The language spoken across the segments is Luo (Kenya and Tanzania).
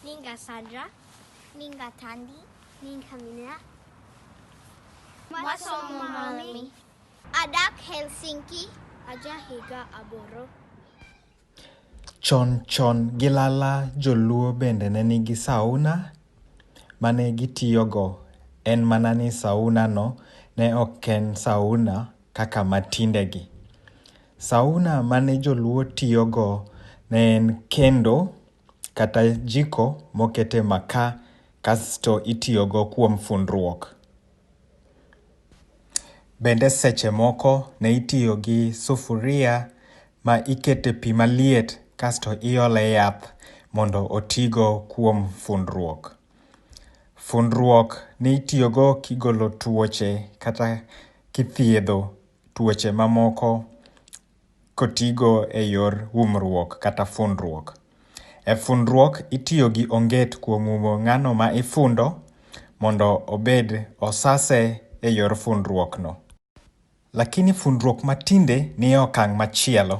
Ninga Sandra. Ninga Tandy. Ninga Minna. Masomo Malmi. Adak Helsinki. Aja Higa Aboro. Chon chon gilala joluo bende ne nigi sauna mane gitiyogo en mana ni saunano ne ok en sauna kaka matindegi. Sauna mane joluo tiyogo ne en kendo kata jiko mokete makaa kasto itiyogo kuom fundruok. Bende seche moko ne itiyo gi sufuria ma ikete pi maliet kasto iole yath mondo otigo kuom fundruok. Fundruok nitiyogo kigolo tuoche kata kithiedho tuoche mamoko kotigo e yor umruok kata fundruok. E fundruok itiyo gi onget kuom umo ng'ano ma ifundo mondo obed osase e yor fundruokno. Lakini fundruok matinde ni e okang' machielo.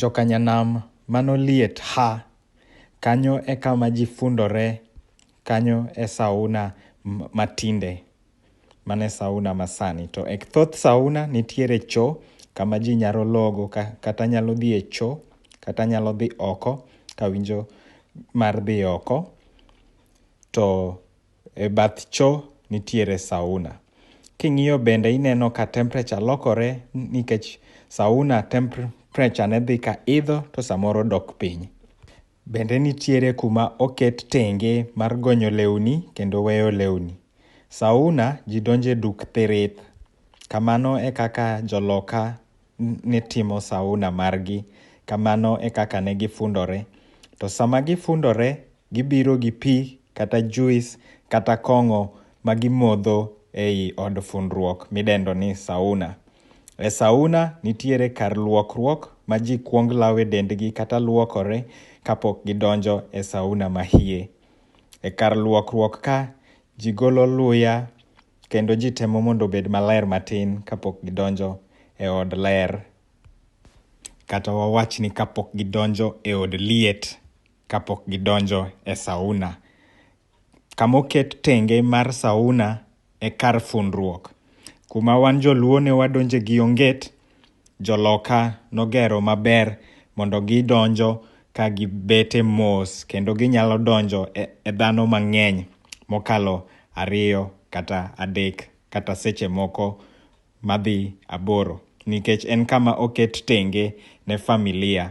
Joka nyanam mano liet ha. Kanyo ekama ji fundore kanyo e sauna matinde mano e sauna masani to e thoth sauna nitiere cho kama ji nyalo logo kata nyalo dhi e cho kata nyalo dhi oko kawinjo mar dhi oko to E bath cho nitiere sauna. King'iyo bende ineno ka temperature lokore nikech sauna temperature ne dhi ka idho to samoro dok piny. Bende nitiere kuma oket tenge mar gonyo lewni kendo weyo lewni. Sauna ji donje duk thirith. Kamano e kaka joloka ne timo sauna margi. Kamano e kaka ne gifundore. To sama gifundore, gibiro gi pi kata juis kata kong'o ma gimodho ei od fundruok midendo ni sauna. E sauna nitiere kar luokruok ma ji kwong lawe dendgi kata luokore kapok gidonjo e sauna mahie. E kar luokruok ka, ji golo luya, Kendo ji temo mondo obed maler matin kapok gidonjo e od ler, kata wawach ni kapok gidonjo e od liet, kapok gidonjo e sauna. Kama oket tenge mar sauna e kar fundruok. Kuma wan joluo ne wadonje gi onget, Joloka nogero maber mondo gidonjo ka gibete mos kendo ginyalo donjo e dhano mang'eny mokalo ariyo kata adek kata seche moko madhi aboro nikech en kama oket tenge ne familia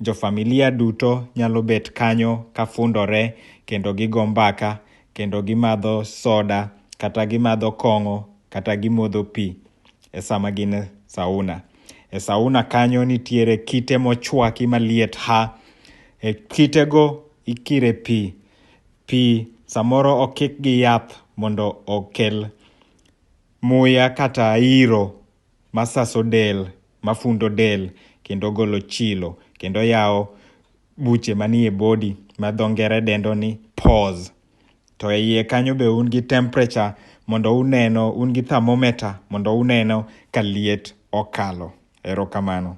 Jofamilia duto nyalo bet kanyo ka fundore kendo gigo mbaka kendo gimadho soda kata gimadho kong'o kata gimodho pi e sama gin e sauna. E sauna kanyo nitiere kite mochwaki maliet ha. E kitego ikire pi. Pi samoro okik gi yath mondo okel muya kata iro. ma saso del, ma fundo del kendo golo chilo kendo yawo buche manie body ma dho ngere dendo ni pores. To e iye kanyo be un gi temperature mondo uneno, un gi thermometer mondo uneno ka liet okalo. Erokamano.